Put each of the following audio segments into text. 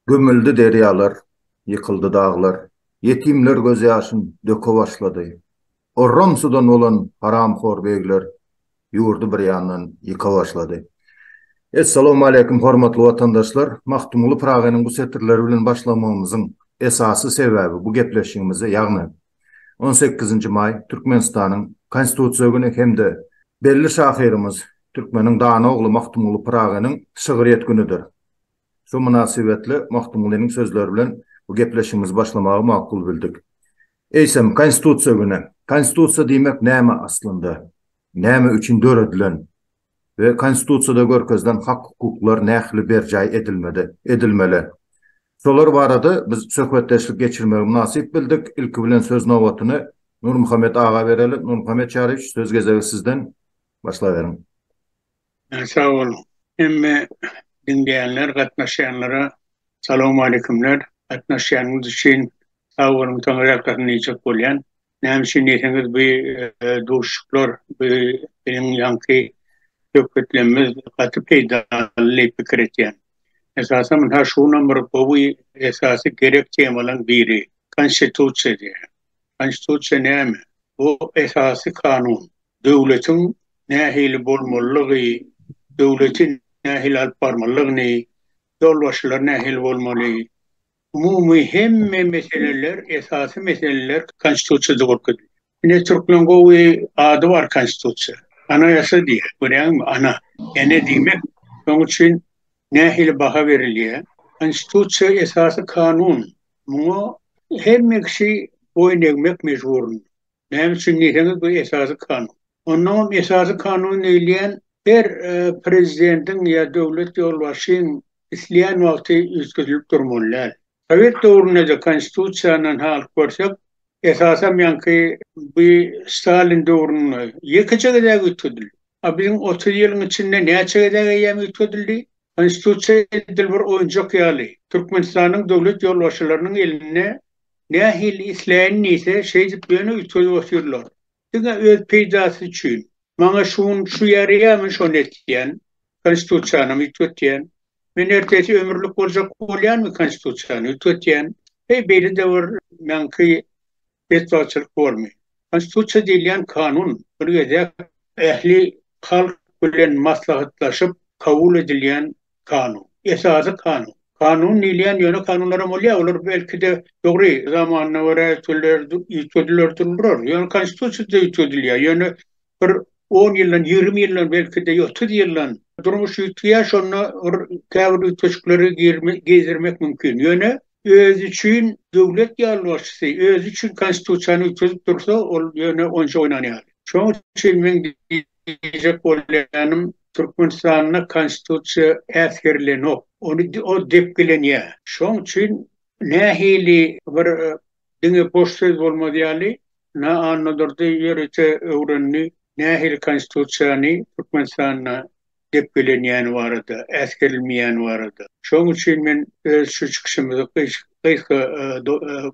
Gömüldi derýalar, ýykyldy daglar, Ýetimler gözýaşyn döke başlady. Orramsudan bolan haramhor begler Ýurdy bir ýandan ýyka başlady. Essalamualeýkum hormatly watandaşlar! Magtymguly Pyragynyň bu setirleri bilen başlamagymyzyň esasy sebäbi bu gepleşigimize ýagny on sekizinji maý Türkmenistanyň Konstitusiýa güni hem-de belli şahyrymyz, türkmeniň dana ogly Magtymguly Pyragynyň şygryýet günüdir. Şu mynasybetli Magtymgulynyň sözleri bilen bu gepleşigimizi başlamagy makul bildik. Eýsem, Konstitusiýa güni. Konstitusiýa diýmek näme aslynda? Näme üçin döredilen we Konstitusiýada görkezilen hak-hukuklar nähili berjaý edilmedi, edilmeli? Şolar barada biz söhbetdeşlik geçirmegi mynasyp bildik. Ilki bilen söz nobatyny Nurmuhammet aga bereli. Nurmuhammet Çaryýewiç, söz gezegi sizden. Başlaberiň. Sag boluň. Hemme diňleýänler, gatnaşýanlara salowmaleýkumler. Gatnaşýanyňyz üçin sag boluň. Soňrakdan diýjek bolýan. Näme üçin diýseňiz bu duşuşyklar, bu biziň ýaňky söhbetlemimiz gaty peýdaly diýip pikir etýän. Esasan munha şu günam bir gowy esasy gerek temalaň biri Konstitusiýa diýýän. Konstitusiýa näme? Bu esasy kanun. Döwletiň nähili bolmalylygy, döwleti nähili alyp barmalylygyny, ýolbaşçylar nähili bolmaly, umumy hemme meseleler, esasy meseleler Konstitusiýada görkezilýär. Ine, türkmen gowy ady bar Konstitusiýa. Anayasa diýýär, görýäňmi, ana, ene diýmek. Şonuň üçin nähili baha berilýär? Konstitusiýa esasy kanun. Muňa hemme kişi boýun egmek mejburynda. Näme üçin diýseňiz, bu Esasy Kanun. Onnoň hem Esasy Kanun diýilýän her prezidentiň ýa döwlet ýolbaşçyň isleýän wagty üýtgedilip durmaly däl. Sowet döwründe-de Konstitusiýadan halyp görsek, esasam ýaňky bu Stalin döwründe ýekeje gezek üýtgedildi. A biziň otuz ýylyň içinde näçe gezek eýýäm üýtgedildi? Konstitusiýa edil bir oýunjak ýaly, Türkmenistanyň döwlet ýolbaşçylarynyň elinde nähili isleýän diýse, şeýdip ýöne üýtgedip otyrlar. Diňe öz peýdasy üçin. Maňa şu gün şu ýaraýarmy şony etýän, Konstitusiýanam üýtgetýän. Men ertesi ömürlik boljak bolýanmy Konstitusiýany üýtgetýän. Heý beýle-de bir meňki betbagtçylyk bormy? Konstitusiýa diýilýän kanun bir gezek ähli halk bilen maslahatlaşyp kabul edilýän kanun. Esasy kanun. Kanun diýilýän ýöne kanunlaram bolýar, olar belki-de, dogry, zamanyna görä üýtgediler, üýtgediler durdular. Ýöne Konstitusiýa-da üýtgedilýär. Ýöne bir on ýyldan, ýigrimi ýyldan, belki-de otuz ýyldan durmuş üýtgeýär, şonda bir käbir üýtgeşikleri girizirmek mümkin. Ýöne özi üçin döwlet ýolbaşçysy özi üçin Konstitusiýany üýtgedip dursa, ol ýöne onça oýnan ýaly. Şonuň üçin meň diýjek bolýanym, Türkmenistanda Konstitusiýa äsgerilenok. Ony o depgilenýär. Şonuň üçin nähili bir Diňe boş söz bolmaz ýaly, Na Annadurdy ýörite öwrendi, nähili konstitusiýany Türkmenistanda depgelenýäni barada, äsgerilmeýäni barada. Şonuň üçin men öz şu çykyşymyzy gysga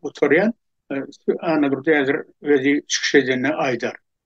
gutarýan. Annadurdy häzir özi çykyş edende aýdar.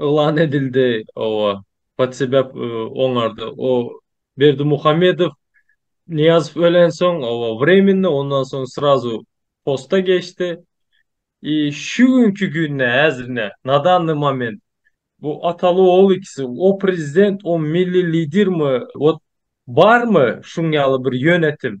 Yglan edildi, oba. Podsebäp oňardy. O Berdimuhamedow, Nyýazow ölensoň, oba, wremenny, ondan soň srazu posta geçdi. I şu günki günde, häzirine, na danny moment, bu ataly-ogul ikisi, o prezident, o milli lidermi, wot, barmy şuň ýaly bir ýönetim?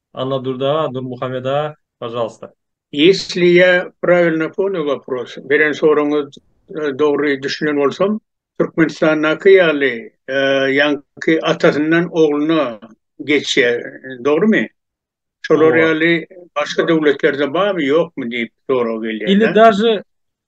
Annadurda Nurmuhameda pažalsta. Ýesli ýa prawilno ponyý wopros, beren soragyňyz dogry düşünen bolsam, Türkmenistandaky ýaly ýaňky atasyndan ogluna geçýär, dogrymy? Şolar ýaly başga döwletlerde barmy ýokmy diýip sorag gelýär. Ili daže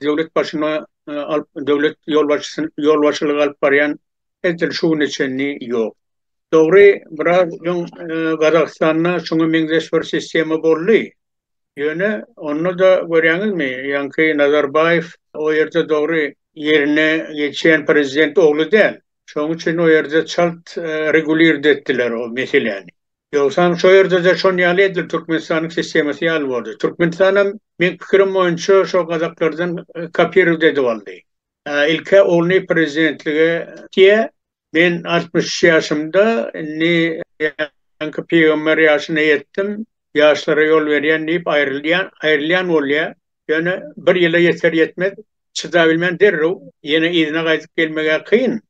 döwlet başyna alyp döwlet ýolbaşçysyny ýolbaşçylyk alyp barýan edil şu güne çenli ýok. Dogry, biraz öň Gazagystanda şuňa meňzeş bir sistema boldy. Ýöne onda da görýäňizmi, ýaňky Nazarbaýew o ýerde dogry ýerine geçýän prezident ogly däl. Şonuň üçin o ýerde çalt regulirdi etdiler o meseläni. Ýogsam şo ýerde-de şon ýaly edil Türkmenistanyň sistemasy ýaly boldy. Türkmenistanam meň pikirim boýunça şo gazaklardan kopirowt edip aldy. Ilk-ä ogluny prezidentlige diýe. Men altmyş üç ýaşymda, indi ýaňky pygamber ýaşyna ýetdim, ýaşlara ýol berýän diýip aýrylýan, aýrylýan bolýa. Ýöne bir ýyla ýeter-ýetmez çydabilmän derrew ýene yzyna gaýdyp gelmeg-ä kyn.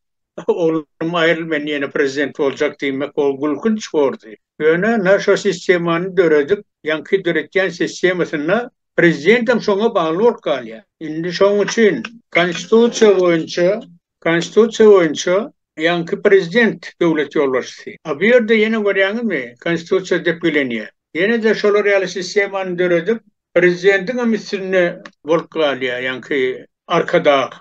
Oglum aýryl men ýene prezident boljak diýmek ol gülkünç bordy. Ýöne na şo sistemany döredip ýaňky döretýän sistemasynda prezidentem şoňa bagly bolup galýar. Indi şoň üçin konstitusiýa boýunça konstitusiýa boýunça ýaňky prezident döwlet ýolbaşçysy. A bu ýerde ýene görýäňizmi konstitusiýa depgilenýär. Ýenede şolar ýaly sistemany döredip prezidentiňem üstünde bolup galýar ýaňky arkadag.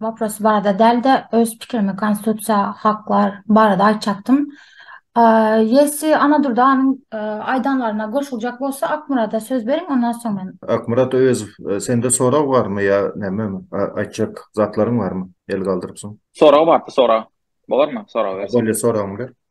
Wopros barada däl-de, öz pikirimi konstitusiýa, haklar barada aýtjakdym. Ýesi Annadur daganyň aýdanlaryna goşuljak bolsa Akmyrada söz beriň, ondan soň men. Akmyrat Öwezow, sende sorag barmy ýa nämemi? Aýtjak zatlaryň barmy? El galdyrypsyň. Sorag bardy, sorag. Bolarmy, sorag berseň? Bolýa, soragyňy ber.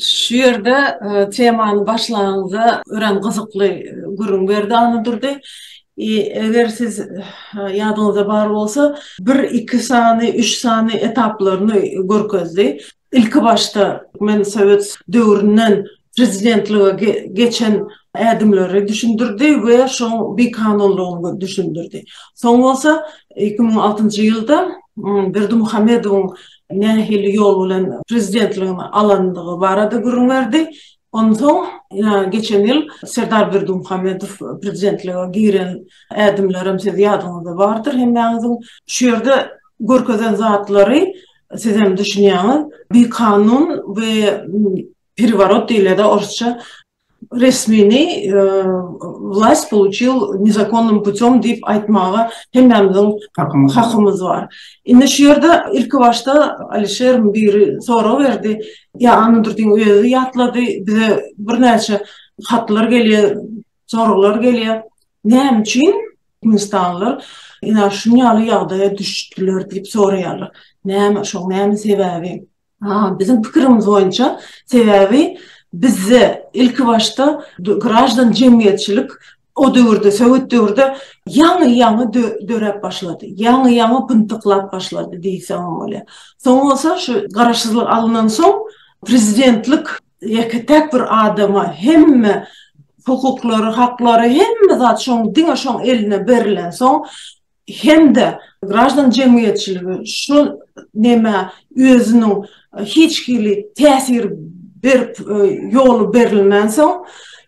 Şu ýerde temany başlanyňda örän gyzykly gürrüň berdi Annadurdy. Eger siz ýadyňyzda bar bolsa, bir, iki sany, üç sany etaplaryny görkezdi. Ilki başda men sowet döwründen prezidentlige geçen ädimleri düşündirdi we şoň bikanunlygyny düşündirdi. Soň bolsa iki müň altynjy ýylda Berdimuhamedowyň nähili ýol bilen prezidentligini alandygy barada gürrüň berdi. Onsoň geçen ýyl Serdar Berdimuhamedow prezidentlige giren ädimlerem siz ýadyňyzda bardyr hemmäňiziň. Şu ýerde görkezen zatlary sizem düşünýäňiz. Bikanun we pereworot diýilýärda orsça. resmini wlaýst pouçil nezakonnym putýom diýip aýtmaga hemmämiziň hakymyz bar. Indi şu ýerde ilki başda Alişeriň biri sorag berdi, ýa Annadurdyň özi ýatlady, bize birnäçe hatlar gelýär, soraglar gelýär, näme üçin türkmenistanlylar ynha şuny ýaly ýagdaýa düşdüler diýip soraýarlar. Näme şoň näme sebäbi? Biziň pikirimiz boýunça, sebäbi bizde ilki başda graždan jemgyýetçilik o döwürde, sowet döwürde ýaňy-ýaňy döräp başlady, ýaňy-ýaňy pyntyklap başlady diýseňem bolýar. Soň bolsa şu garaşsyzlyk alnan soň prezidentlik ýeke-täk bir adama hemme hukuklary, haklary, hemme zat şoň diňe şoň eline berlen soň hem-de graždan jemgyýetçiligi şu nämä özüniň hiç hili täsir berip ýoly berilmänsoň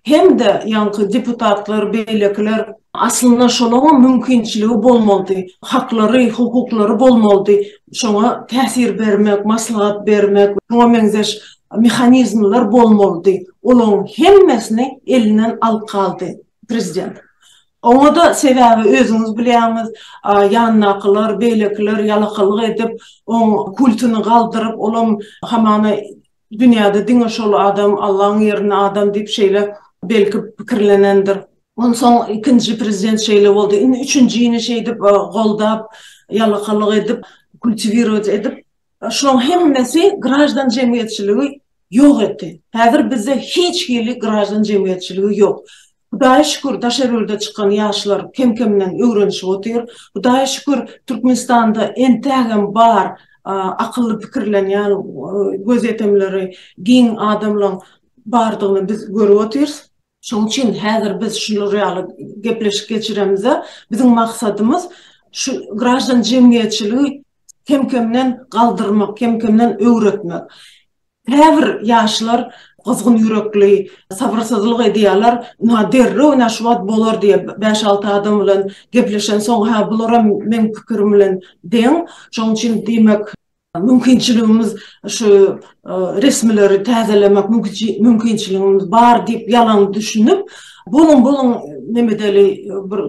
hem-de ýaňky deputatlar beýlekiler, aslynda şolaňam mümkinçiligi bolmalydy, haklary, hukuklary bolmalydy, şoňa täsir bermek, maslahat bermek we şuňa meňzeş mehanizmler bolmalydy, olaň hemmesini elinden alyp galdy prezident. Oňa-da sebäbi özüňiz bilýäňiz, ýanyndakylar, beýlekiler ýalakalyk edip, oň kultyny galdyryp, olam hamana dünýäde diňe şol adam, Allaň ýerine adam diýip şeýle belki pikirlenendir. Onsoň ikinji prezident şeýle boldy. Indi üçünjini şeýdip goldap, ýalakalyk edip, kultiwirować edip, Şulaň hemmesi graždan jemgyýetçiligi ýok etdi. Häzir bizde hiç hili graždan jemgyýetçiligi ýok. Hudaýa şükür, daşary ýurda çykan ýaşlar kem-kemden öwrenişip otyr. Hudaýa şükür, Türkmenistanda entägem bar akylly pikirlenýän, gözýetimleri giň adamlaň bardygyny biz görüp otyrys. Şoň üçin häzir biz şular ýaly gepleşik geçiremizde, biziň maksadymyz şu graždan jemgyýetçiligi kem-kemden galdyrmak, kem-kemden öwretmek. Käbir ýaşlar gyzgyn ýürekli, sabyrsyzlyk edýärler, ynha derrew ynha şu wagt bolar diýip, bäş-alty adam bilen gepleşensoň, hä bularam meň pikirim bilen deň. Şoň üçin diýmek, Mümkinçiligimiz şu resmileri täzelemek mümkinçiligimiz bar diýip ýalan düşünip, boluň boluň nemedeli bir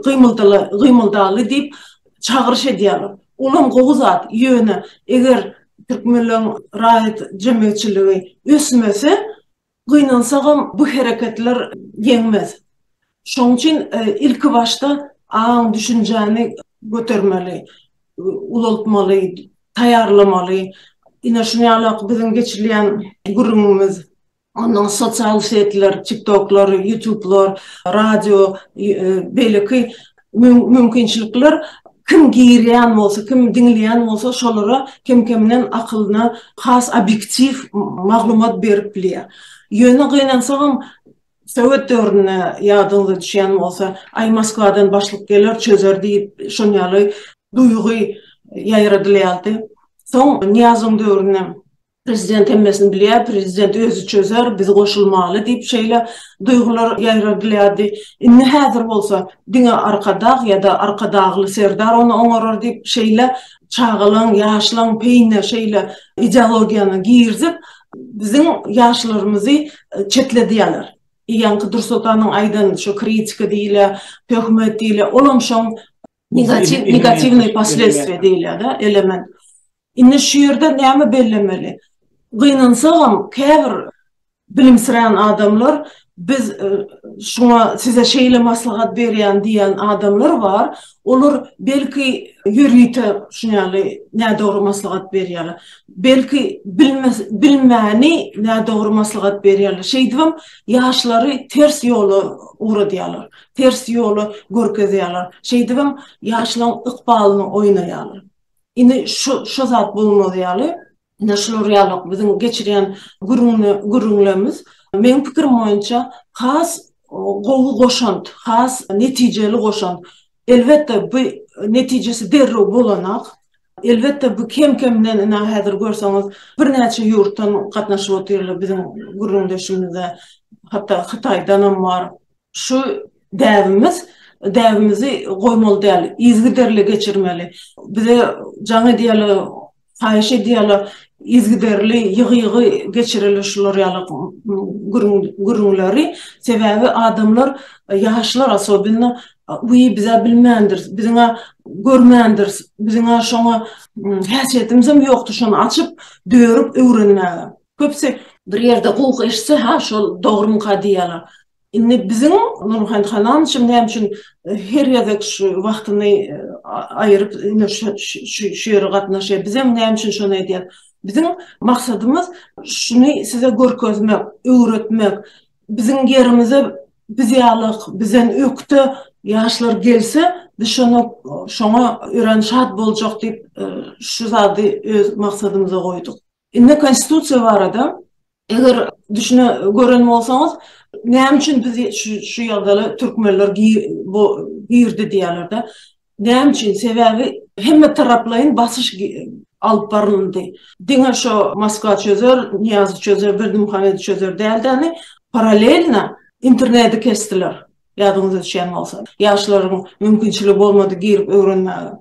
gymyldaly diýip çagyryş edýärler. Olam gowy zat, ýöne eger türkmenleň raýat jemgyýetçiligi ösmese, Gynansagam bu hereketler ýeňmez. Şoň üçin ilki başda aň-düşünjäni götermeli, ulaltmaly, taýýarlamaly. Ine şunuň ýaly biziň geçilýän gürrüňimiz, onnoň sosial setler, tiktoklar, ýutublar, radio, beýleki mümkinçilikler kim girýän bolsa, kim diňleýän bolsa şolara kem-kemden akylyna has obýektiw maglumat berip bilýär. Ýöne gynansagam sowet döwründe ýadyňyza düşýän bolsa, aý Moskwadan başlyk geler çözer diýip şon ýaly duýgy ýaýradylýardy. Soň Nyýazowyň döwrüne Prezident hemmesini bilýär, prezident özi çözer, biz goşulmaly diýip şeýle duýgular ýaýradylýardy. Indi häzir bolsa diňe Arkadag ýa-da Arkadagly serdar ony oňarar diýip şeýle çagalaň, ýaşlaň peýine şeýle ideologiýany girizip, biziň ýaşlarymyzy çetledýärler. Ýaňky Dursoltanyň aýdan şu kritika diýilýä, töhmet diýilýä, olam şoň. Negatiw, negatiwnyý posledstwiýa diýilýär-de, element. Indi şu ýerde näme bellemeli? Gynansagam, käbir bilimsirän adamlar biz şuňa size şeýle maslahat berýän diýen adamlar bar. Olar belki ýörite şuny ýaly nädogry maslahat berýärler. Belki bilmäni nädogry maslahat berýärler. Şeýdibem ýaşlary ters ýola ugradýarlar. ters ýoly görkezýärler. Şeýdibem ýaşlaň ykbalyny oýnaýarlar. Indi şu şu zat bolmaz ýaly, ine şular ýaly biziň geçirýän gürrüňle gürrüňlerimiz meň pikirim boýunça has gowy goşant, has netijeli goşant. Elbetde bu netijesi derrew bolanak. Elbetde bu kem kemden ine häzir görseňiz birnäçe ýurtdan gatnaşyp otyrlar biziň gürrüňdeşimize hatda Hytaýdanam bar. Şu däbimiz, däbimizi goýmaly däl, yzygiderli geçirmeli. Bize jaň edýärler, haýyş edýärler, yzygiderli, ýygy-ýygy geçireli şular ýaly gürrüň, gürrüňleri. Sebäbi adamlar, ýaşlar osobenno, wiý, biz-ä bilmändiris, biziň-ä görmändiris, biziň-ä şoňa häsiýetimizem ýokdur şony açyp, dörüp öwrenmäge. Köpüsi bir ýerde gowy eşitse, Hä, şol dogrumyka diýýärler. Indi biziň Nurmuhammet Halamyçam näme üçin her gezek şu wagtyny aýyryp indi şu ýere gatnaşýar, bizem näme üçin şony edýäs? Biziň maksadymyz şuny size görkezmek, öwretmek. Biziň ýerimize biz ýaly bizden ökde ýaşlar gelse, biz şoňa şoňa örän şat boljak diýip, şu zady öz maksadymyza goýduk. Indi konstitusiýa barada eger düşüne gören bolsaňyz näme üçin biz şu ýagdaýa türkmenler bu girdi diýýärlerde näme üçin sebäbi hemme taraplaýyn basyş alyp barylyndy diňe şo moskwa çözer niýazy çözer berdimuhamedi çözer däldeni paralelna interneti kesdiler ýadyňyza düşýän bolsa ýaşlaryň mümkinçiligi bolmady girip öwrenmäge.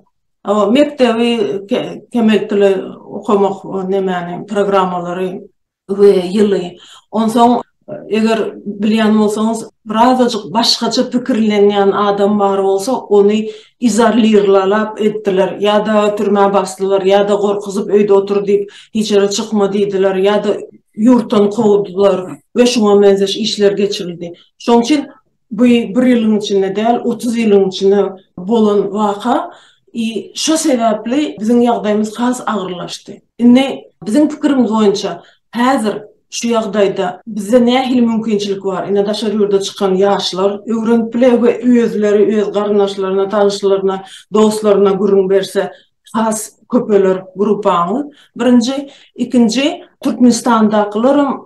Hawa, mekdebi kemeltdile okamak nemäni, programmalary we ýyly. Onsoň, eger bilýän bolsaňyz, birazajyk başgaça pikirlenýän adam bar bolsa, ony izolirlalap etdiler, ýa-da türmä basdylar, ýa-da gorkuzyp öýde otur diýip, hiç ýere çykma diýdiler, ýa-da ýurtdan kowdular we şuňa meňzeş işler geçirildi. Şoň üçin Bu bir ýylyň içinde däl, otuz ýylyň içinde bolan waka i şo sebäpli biziň ýagdaýymyz has agyrlaşdy. Indi biziň pikirimiz boýunça häzir şu ýagdaýda bizde nähili mümkinçilik bar? Ine daşary ýurda çykan ýaşlar öwrenip biler we özleri öz garyndaşlaryna, tanyşlaryna, dostlaryna gürrüň berse has köpeler gruppaňyz. Birinji, ikinji Türkmenistandakylaram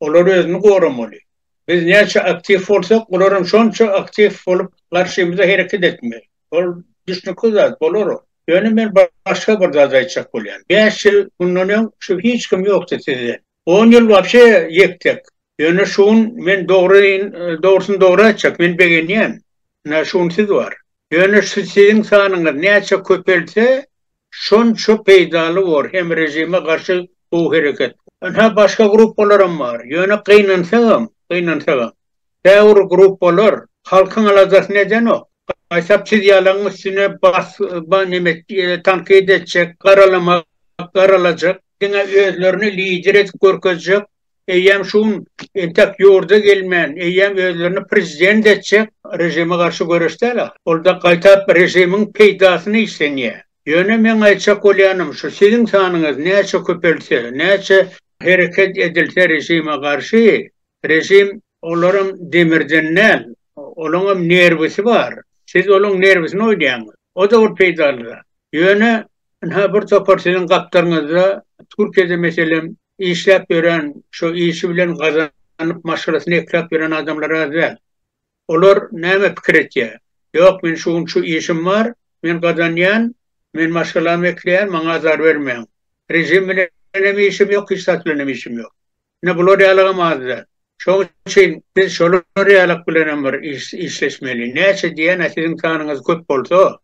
Olar özüni goramaly. Biz näçe aktiw bolsak, olar hem şonça aktiw bolup, garşymyza hereket etmeli. Ol düşnükli zat, bolar ol. Ýöne men başga bir zat aýtjak bolýan. Bäş ýyl mundan öň şu hiç kim ýokdy sizden. On ýyl wapşe ýek-tek. Ýöne şu gün men dogryň dogrusyny dogry aýtjak, men begenýän. Ynha şu gün siz bar. Ýöne şu siziň sanyňyz näçe köpelse, Şonça peýdaly bor hem režime garşy gowy hereket. Ynha başga gruppalaram bar. Ýöne gynansagam, gynansagam. Käbir gruppalar halkyň aladasyny edenok. Gaýtap siz ýalaň üstüne bas ba neme tankyt etjek, garalamak, garalajak. Diňe özlerini lider edip görkezjek Eýýäm şu gün entek ýurda gelmän, eýýäm özlerini prezident etjek režime garşy göreşdäl ahyr. Ol-da gaýtap režimiň peýdasyna işlenýär. Ýöne meň aýtjak bolýanym şu, siziň sanyňyz näçe köpelse, näçe hereket edilse režime garşy, režim olaram demirden däl, olaňam nerwisi bar. Siz olaň nerwisini oýnaýaňyz. O-da bir peýdaly zat. Ýöne Ynha, bir topar siziň gapdalyňyzda Türkiýede, meselem, işläp ýören, şo işi bilen gazanyp, maşgalasyny ekläp ýören adamlar az däl. Olar näme pikir etýär? Ýok, men şu gün şu işim bar, men gazanýan, men maşgalamy ekleýän, maňa azar bermäň. Režim bilen hem işim ýok, hiç zat bilen hem işim ýok. Ine, bular ýalygam az däl. Şonuň üçin biz şolar ýalyk bilenem bir işleşmeli. Näçe diýen-ä siziň sanyňyz köp bolsa,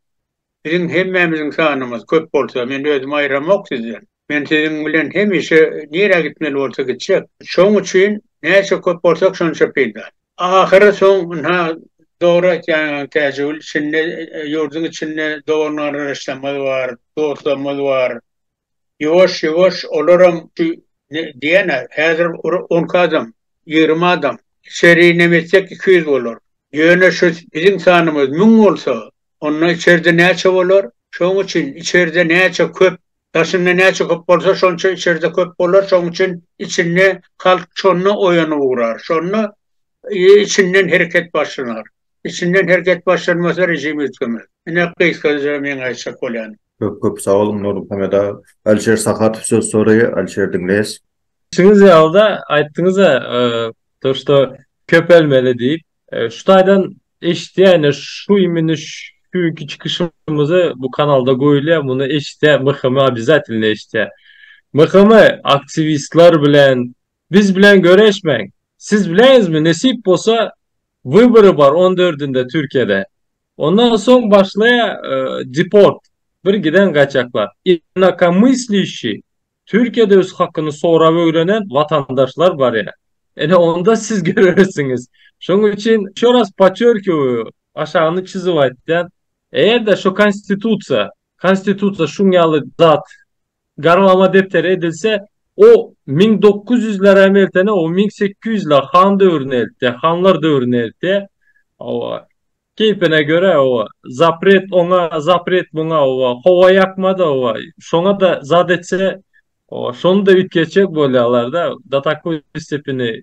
Biziň hemmämiziň sanymyz köp bolsa, men özümi aýramok sizden. Men siziň bilen hemişe nirä gitmeli bolsa gitjek. Şoň üçin näçe köp bolsak şonça peýda. Ahyry soň, ynha, dogry aýtýaň Täjigül, içinde, ýurduň içinde dogan-garyndaşlarymyz bar, dostlarymyz bar. Ýuwaş ýuwaş olaram şu diýene häzir on iki adam ýigrimi adam içeri nem etsek iki ýüz bolar. Ýöne şu biziň sanymyz müň bolsa onda içerde näçe bolar şoň üçin içerde näçe köp daşynda näçe köp bolsa şonça içerde köp bolar şoň üçin içinde halk şonda oýanyp ugrar şonda Içinden hereket başlanar. Içinden hereket başlanmasa režim üýtgemez. Ine gysgaça meň aýtjak bolýanym. Köp köp sag boluň Nurmuhammet aga. Alişer Sahatow söz soraýar. Alişer diňleýäs. Siz ýaly-da aýtdyňyz-a to što köpelmeli diýip. Şu taýdan eşidýäne şu imini şu günki çykyşymyzy bu kanalda goýulýa muny eşidýä MHM obýazatelno eşidýä. MHM aktiwistler bilen Biz bilen göreşmäň. Siz bileňizmi nesip bolsa wybory bar on dördünde Türkiýede. Ondan soň başlaýa deport bir giden gaýtjaklar. Inakomyslişi Türkiýede öz hakyny sorap ögrenen watandaşlar barýa. Ene onda siz görersiňiz. Şoň üçin ýşo raz potçerkiwuýu aşagyny çyzyp aýtýan. Eger-de şo konstitusiýa Konstitusiýa şuň ýaly zat. Garmama depderi edilse, o müň dokuz ýüzleräm eltene, o müň sekiz ýüzler han döwrüne eltýär, hanlar döwrüne eltýär. Hawa, keýpine görä, hawa, zapret oňa, zapret muňa, hawa, howa ýakmady, hawa, şoňa-da zat etse, hawa, şony-da üýtgetjek bolýarlar-da, do takoý stepeni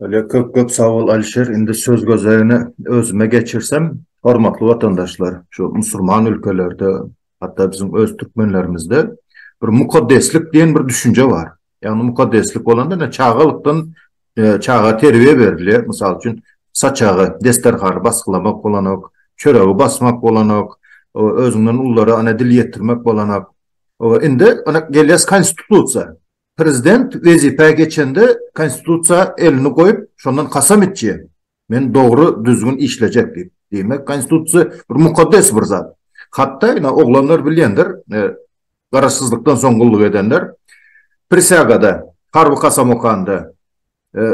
Öle köp köp sag bol Alişer indi söz gözegini özüme geçirsem hormatly watandaşlar şu musurman ülkelerde hatda biziň öz türkmenlerimizde bir mukaddeslik diýen bir düşünje bar ýagny mukaddeslik bolanda ine çagalykdan çaga terbiýe berilýär mysal üçin saçagy desterhany basgylamak bolanok çöregi basmak bolanok özüňden ullara ine dil ýetirmek bolanok indi ine gelýäs konstitusiýa. Prezident wezipä geçende konstitusiýa elini goýup şondan kasam içýä, men dogry düzgün işlejek diýip. Diýmek konstitusiýa bir mukaddes bir zat. Hatda ina oglanlar bilýändir, garaşsyzlykdan soň gulluk edenler, prisýagada, harby kasam okanda,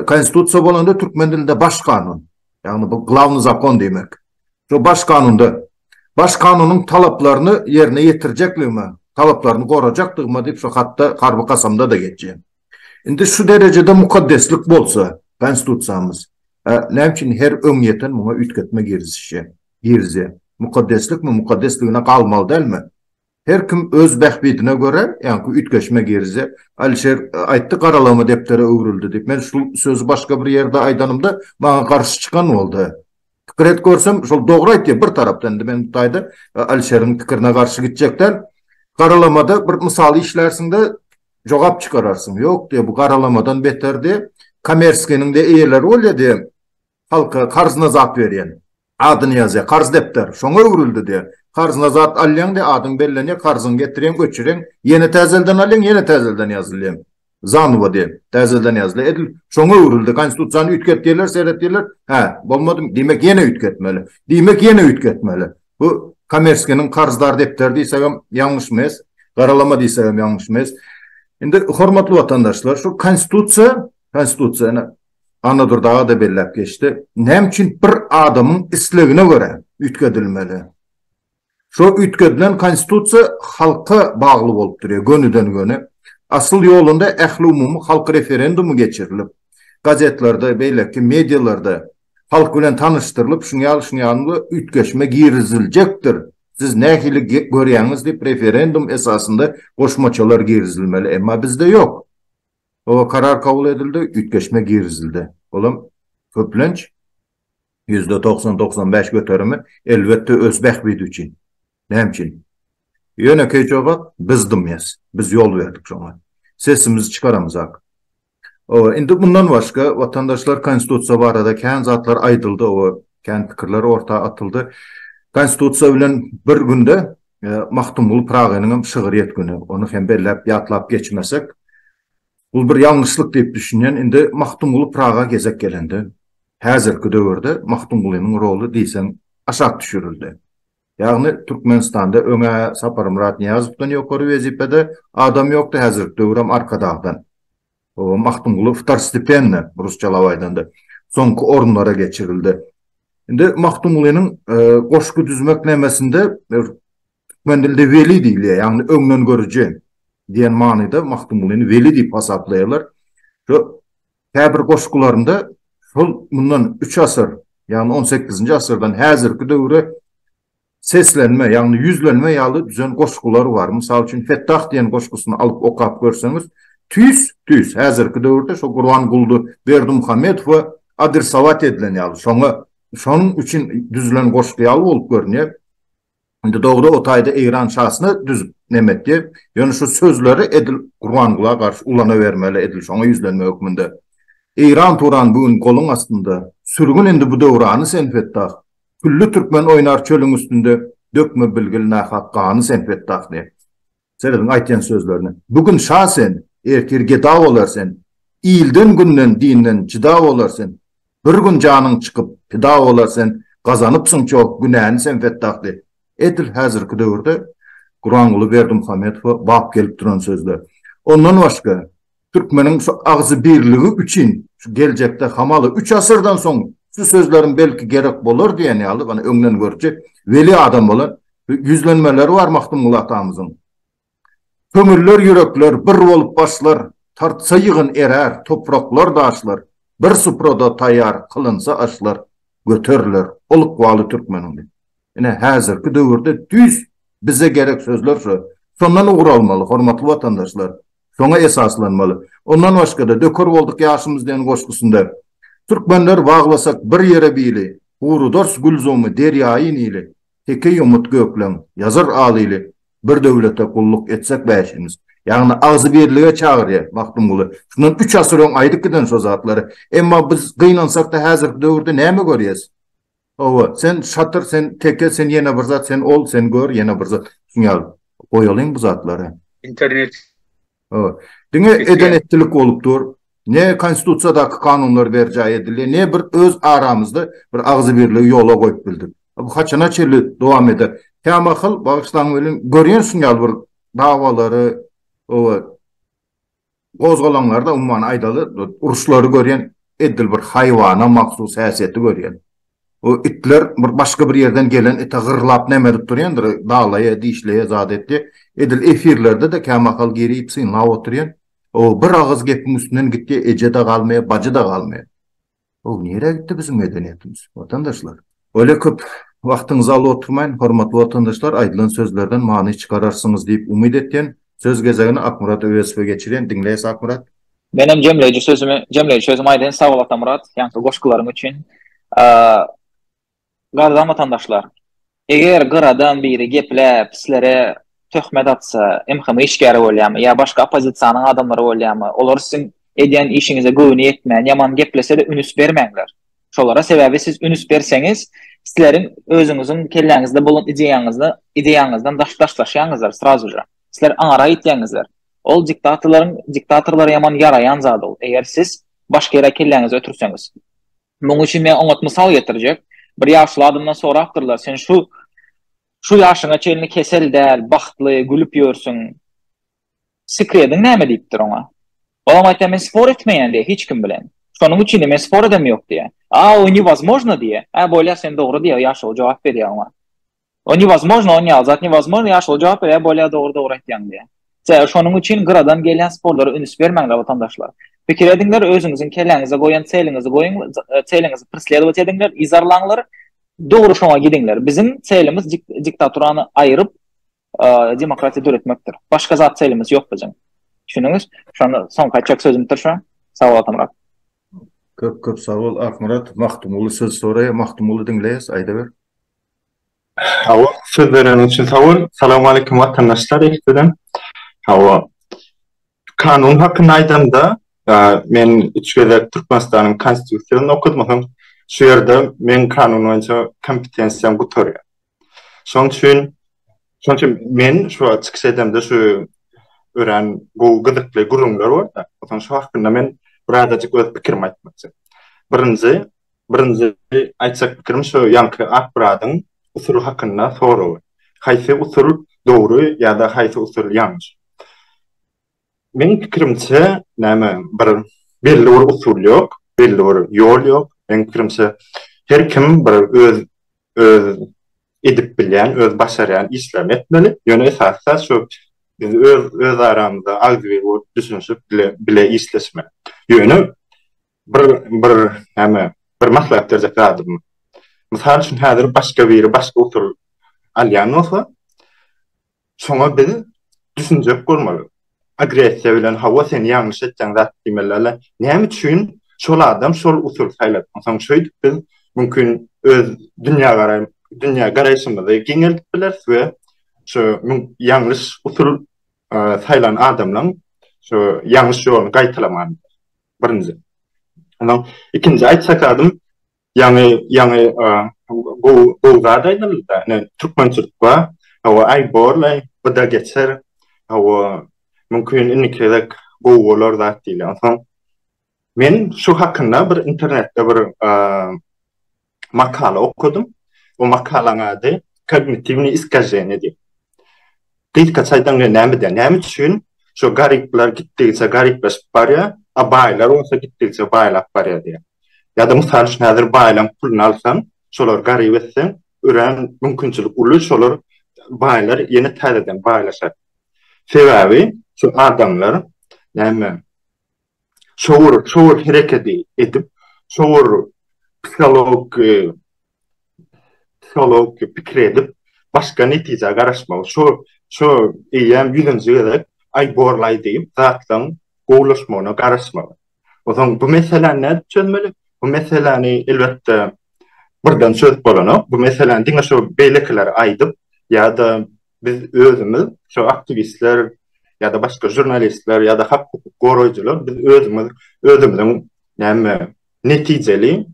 Konstitusiýa bolanda türkmen dilinde baş kanun, ýagny bu glawnyý zakon diýmek. Şu baş kanunda Baş kanunyň talaplaryny ýerine ýetirjekligime, talaplaryny gorajakdygyma diýip şu hatda harby kasamda-da geçýär. Indi şu derejede mukaddeslik bolsa Konstitusiýamyz, näme üçin her öňýeten muňa üýtgetme girizişýär, girizýär? Mukaddeslikmi, mukaddesligine galmaly dälmi? Her kim öz bähbidine görä, ýaňky üýtgeşme girizýär. Alişer aýtdy, garalama depdere öwrüldi diýip. Men şul sözi başga bir ýerde aýdanymda, maňa garşy çykan boldy. Pikir et görsem, şol dogry aýtýar bir tarapdan. Indi men bu taýda Alişeriň pikirine garşy gitjek däl. Garalamada bir mysal işlärsiň-de, jogap çykararsyň. Ýok diýýär, bu garalamadan beter diýýär. Kommersiýanyň-da eýeleri bolýar diýýär. Halka karz nazat berýän. Adyny ýazýar. Karz depder. Şoňa öwrüldi diýýär. Karz nazat alýaň diýýär. Adyň bellenýär. Karzyňy getirýäň, öçürýäň. Ýene täzelden alýaň, ýene täzelden ýazylýaň. Zanowa diýen. Täzelden ýazylýar. Edil şoňa öwrüldi. Konstitusiýany üýtget diýerler, seret diýerler. Hä, bolmadymy? Diýmek, ýene üýtgetmeli. Diýmek, ýene üýtgetmeli. Bu Komerskiniň karzdar depderi diýsegem ýalňyş mes. Garalama diýsegem ýalňyş mes. Indi, hormatly watandaşlar, şu Konstitusiýa, Konstitusiýa, ine, Annadur dagy-da belläp geçdi. Näme üçin bir adamyň islegine görä üýtgedilmeli? Şo üýtgedilen Konstitusiýa halka bagly bolup durýar, gönüden-göni. Asyl ýolunda ähliumumy halk referendumy geçirilip, gazetlerde, beýleki medialarda halk bilen tanyşdyrylyp, şuňa ýaly, şuňa ýaly üýtgeşme giriziljekdir, siz nähili görýäňiz diýip, referendum esasynda goşmaçalar girizilmeli, emma bizde ýok. Oba karar kabul edildi, üýtgeşme girizildi. Olam, köplenç, ýüzde togsan, togsan bäş göterimi, elbetde, öz bähbidi üçin. Näme üçin? Ýönekeý jogap, biz dymýas. Biz ýol berdik şoňa. Sesimizi çykaramyzak. Oba, indi mundan başga, watandaşlar, Konstitusiýa barada kän zatlar aýdyldy, oba, kän pikirler orta atyldy. Konstitusiýa bilen bir günde Magtymguly Pyragynyň hem şygyr ýetgini, ony hem belläp ýatlap geçmesek, bul bir ýalňyşlyk diýip düşünýän. Indi Magtymguly Pyraga gezek gelende, häzirki döwürde Magtymgulynyň roly diýseň aşak düşürildi. Ýagny Türkmenistanda öň-ä Saparmyrat Nyýazowdan ýokary wezipede adam ýokdy, häzirki döwür hem Arkadagdan. Magtymguly wtorstepenne, rusçalap aýdanda, soňky orunlara geçirildi. Indi Magtymgulynyň goşgy düzmek nemesinde türkmen dilinde weli diýilýär, ýagny öňdengörüji diýen manyda Magtymgulyny weli diýip hasaplaýarlar. Şu käbir goşgularynda şol mundan üç asyr, ýagny on sekizinji asyrdan häzirki döwre Seslenme, ýagny ýüzlenme ýaly düzen goşgular bar. Mysal üçin, Fettah diýen goşgusyny alyp okap görseňiz, tüýs, tüýs, häzirki döwürde şo Gurbanguly Berdimuhamedow we adresowat edilen ýaly, şoňa, şonuň üçin düzülen goşgy ýaly bolup görünýär. Indi dogry, o taýda Eýran şasyna düzüp neme etdi. Ýöne şu sözleri edil Gurbangula garşy ulanabermeli, edil şoňa ýüzlenme hökmünde. Eýran-Turan bu gün goluň astynda. Sürgün indi bu döwrany sen, Fettah. Külli türkmen oýnar çölüň üstünde, Dökme bilgil nahak gany sen Fetdah diýip. Serediň aýtýan sözlerine. Bu gün şa sen, ertir geda bolar sen, Ilden, günden, dinden jyda bolar sen, Bir gün janyň çykyp pida bolar sen, Gazanypsyň çoh günäni sen Fetdah diýip. Edil häzirki döwürde Guranguly Berdimuhamedowa bap gelip duran sözler. Ondan başga, Türkmeniň şu agzybirligi üçin şu geljekde hamaly üç asyrdan soň şu sözleriň belki gerek bolar diýen ýaly ony öňden görüji weli adam bolan ýüzlenmeleri bar Magtymguly atamyzyň. Köňüller ýürekler bir bolup başlar, tartsa ýygyn erär topraklar daşlar, bir suprada taýýar kylynsa aşlar göteriler ol ykbaly türkmeniň diýip. Ine häzirki döwürde düýs bize gerek sözler şu. Şondan ugur almaly hormatly watandaşlar. şoňa esaslanmaly. Ondan başga-da, Döker bolduk ýaşymyz diýen goşgusynda, Türkmenler baglasak bir ýere bili, Gurudars gülzumy derýaýy Nili, Teke ýumut gökleň, ýazar al ili, Bir döwlete gulluk etsek bäşimiz. Ýagny agzybirlige çagyrýar Magtymguly. Şundan üç asyr öň aýdyp giden şo zatlary. Emma biz gynansak-da häzirki döwürde näme görýäs? Hawa, sen şatyr, sen teke, sen ýene bir zat, sen ol, sen gör, ýene bir zat. Şuny ýaly goýalyň bu zatlary. Internet. Hawa. Diňe eden-etdilik bolup dur. Ne Konstitusiýadaky kanunlar berjaý edildi, ne bir öz aramyzda bir agzybirligi ýola goýup bildik. Bu haçana çenli dowam eder? Kämahal, bagyşlaň welin, görýän şuny ýaly bir dawalary, hawa, Gozgalaňlarda umman aýdaly uruşlary görýän edil bir haýwana mahsus häsiýeti görýän. O itler bir başga bir ýerden gelen ite gyrlap näme edip durýandyr dalaýa dişleýä zat etýä. Edil efirlerdede kämahal girip synlap otyrýan. O bir agyz gepiň üstünden gitýä eje-de galmaýa bajy-da galmaýa. Hoow nirä gitdi biziň medeniýetimiz watandaşlar. Bolýa köp wagtyňyzy alyp oturmaýyn hormatly watandaşlar aýdylan sözlerden many çykararsyňyz diýip umyt etýän söz gezegini Akmyrat Öwezowa geçirýän diňleýäs Akmyrat. Menem jemleýji sözümi jemleýji sözümi aýdaýyn sag bol Atamyrat ýaňky goşgularyň üçin. Gadadan watandaşlar! Eger gyradan biri gepläp, sizlere töhmet atsa, MHM işgäri bolýamy ýa başga oppozisiýanyň adamlary bolýamy, olar siziň edýän işiňize göwni ýetmän, ýaman geplese-de ünüs bermäňler şolara, sebäbi siz ünüs berseňiz, sizleriň özüňiziň kelläňizde bolan ideýaňyzy, ideýaňyzdan daş daşlaşýaňyzdyr srazuja. Sizler aňara ýitýäňizdir. Ol diktatorlaryň, diktatorlara ýaman ýaraýan zat ol, eger siz başga ýere kelläňizi ötürseňiz. Munuň üçin men oňat mysal getirjek. Bir ýaşuly adamdan sorapdyrlar, Sen şu şu ýaşyňa çenli kesel däl, bagtly, gülüp ýörsüň. Sekrediň näme diýipdir oňa. Ol oňa aýtýar, Men spor etmeýän diýýär hiç kim bilen. Şonuň üçin diýýär, men spor edem ýok diýýär. A o newozmojno diýýär. Hä bolýar sen dogry diýýär, ýaşuly jogap berýär oňa. O newozmojno on ýaly zat newozmojno ýa şol jogap berýär bolýa dogry dogry aýtýaň diýýär. Sebäbi şonuň üçin gyradan gelýän sporlara üns bermäňler watandaşlar. Pikir ediňler özüňiziň kelläňize goýan çeliňizi goýuň çeliňizi preslewat ediňler yzarlaňlar dogry şoňa gidiňler biziň çelimiz diktaturany aýyryp demokratiýa döretmekdir. Başga zat çelimiz ýok biziň. Düşündüňiz? Şonda soňky aýtjak sözümdir şu. Sag bol Atamyrat. Köp köp sag bol Akmyrat. Magtymguly söz soraýa Magtymguly diňleýäs aýdaber. Hawa, söz bereniň üçin sag bol. Salam aleýkum watandaşlar ilkiden. Hawa. Kanun hakynda aýdanda, men üç gezek Türkmenistanyň Konstitusiýasyny okudym, soň şu ýerde meň kanun boýunça kompetensiýam gutarýar. Şonuň üçin, şonuň üçin men şu wagt çykyş edemde şu örän gowy gyzykly gürrüňler bar-da, soň şu hakynda men birazajyk öz pikirimi aýtmakçy. Birinji, Birinji aýtjak pikirim şu ýaňky ak bradyň usul hakynda soragy. Haýsy usul dogry ýa-da haýsy usul ýalňyş? Meň pikirimçe, näme bir belli bir usul ýok, belli bir ýol ýok. Meň pikirimçe, her kim bir öz öz edip bilýän, öz başarýan işlerini etmeli. Ýöne esasy zat şu biz öz öz aramyzda agzybir bolup düşünişip bile bile işleşmeli. Ýöne Bir bir näme bir maslahat berjek zadym. Mysal üçin häzir başga biri başga usul alýan bolsa, şoňa biz düşünjek bolmaly. Agressiýa bilen hawa sen ýalňyş etýäň zat diýmelilä näme üçin şol adam şol usul saýlady. Onsoň şeýdip biz mümkin öz dünýägaraýym dünýä garaýşymyzy giňeldip bileris we şu ýalňyş usul saýlan adamlaň şu ýalňyş ýoluny gaýtalaman. Birinji. Ondan ikinji aýtjak adym ýaňy ýaňy gowy gowy zat aýdyldy-da. Ine türkmençilikwa hawa aý borlaý bu da geçer. Hawa mümkin indiki gezek gowy bolar zat diýilýär. Onsoň men şu hakynda bir internetde bir makala okadym. O makalaň ady Kognitiwni iskaženi diýip. Gysga çaýdan gelen näme diýen? Näme üçin şu garyplar gitdigiçe garyplaşyp barýar, a baýlar bolsa gitdigiçe baýlap barýar diýen. Ya da mysal üçin häzir baýlan puluny alsaň, şolar garyp etseň, örän mümkinçilik uly şolar baýlar ýene täzeden baýlaşar. Sebäbi şu adamlar näme? şowur şowur herekedi edip şowur psiholog psiholog pikir edip başga netijä garaşmagy şu şu eýýäm ýüzünji gezek aý borlaý diýip zatlaň gowulaşmagyna garaşmagy ozaň bu meseläni nädip çözmeli bu meseläni elbetde birden çözüp bolanok bu meseläni diňe şu beýlekiler aýdyp ýa-da Biz özümiz, şu aktiwistler ýa-da başga žurnalistler ýa-da hak hukuk goraýjylar biz özümiz özümiziň näme netijeli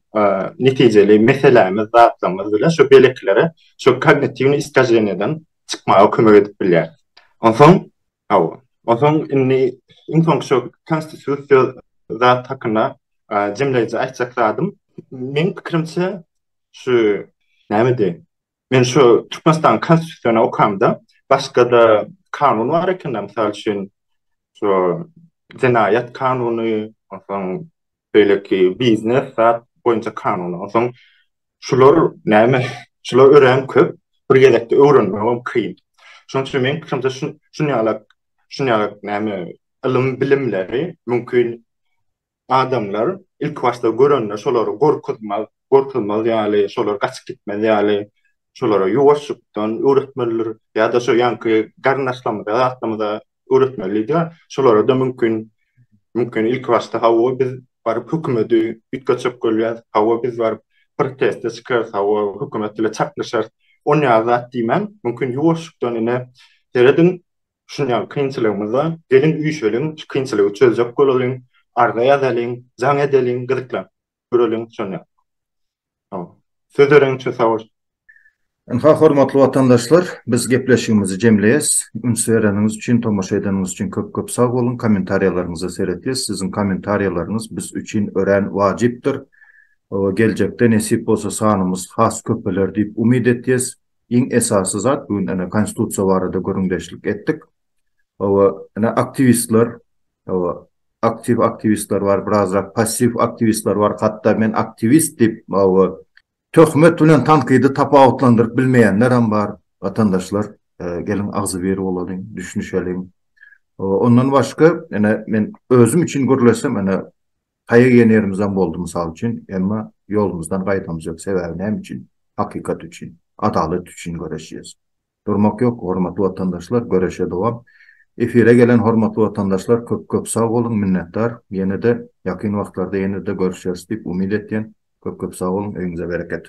netijeli meselämiz zatlarymyz bilen şu belekilere şu kognitiwni iskaženeden çykmaga kömek edip bilýär. Onsoň, aw, onsoň indi iň soň şu konstitusiýa zat hakynda jemleýji aýtjak zadym, meň pikirimçe şu näme diýen Men şu Türkmenistanyň Konstitusiýasyny okamda, başga-da kanun bar eken-de, mysal üçin, şu jenaýat kanuny, onsoň beýleki biznes zat boýunça kanuny, onsoň şular näme, şular örän köp, bir gezekde öwrenmegem kyn. Şonuň üçin meň pikirimçe, şun, şunýalak, şunýalak näme, ylym-bilimleri mümkin Adamlar ilki başda görende şolary gorkuzmaz, gorkuzmaz ýaly, şolar gaçyp gitmez ýaly, şolara ýuwaşjykdan öwretmelidir. Ýa-da şu ýaňky garyndaşlarymyza, zatlarymyza öwretmelidi. Şolara-da mümkin, mümkin ilki başda hawa biz baryp hökümeti üýtgetjek bolýas, hawa biz baryp proteste çykarys, hawa hökümet bile çaknyşarys, onýaly zat diýmän, mümkin ýuwaşjykdan ine, serediň, Şuny ýaly kynçylygymyzda geliň üýşeliň, şu kynçylygy çözjek bolalyň, arza ýazalyň, jaň edeliň, gyzyklanyp göreliň şony ýaly. Hawa. Söz bereň üçin sag bol. Ynha hormatly watandaşlar biz gepleşigimizi jemleýäs. Üns bereniňiz üçin, tomaşa edeniňiz üçin köp köp sag boluň. Kommentariýalaryňyza seretýäs. Siziň kommentariýalaryňyz biz üçin örän wajypdyr. Geljekde nesip bolsa sanymyz has köpeler diýip umyt etýäs. Iň esasy zat bu gün ene konstitusiýa barada gürrüňdeşlik etdik. Hawa, ene aktiwistler, hawa, aktiw aktiwistler bar, birazrak passiw aktiwistler bar, hatda men aktiwist diýip, hawa, töhmet bilen tankydy tapawutlandyryp bilmeýänler hem bar. Watandaşlar, geliň agzybir bolalyň, düşünişeliň. Hawa, ondan başga, ene, men özüm üçin gürleşsem, ene, Taýak iýen ýerimizem boldy mysal üçin, emma ýolumyzdan gaýdamyzýok, sebäbi näme üçin? Hakykat üçin, adalat üçin göreşýäs. Durmak ýok hormatly watandaşlar, göreşe dowam. Efire gelen hormatly watandaşlar köp köp sag boluň, minnetdar. Ýenede ýakyn wagtlarda ýenede görüşeris diýip umyt etýän. Köp köp sag boluň, öýüňize bereket.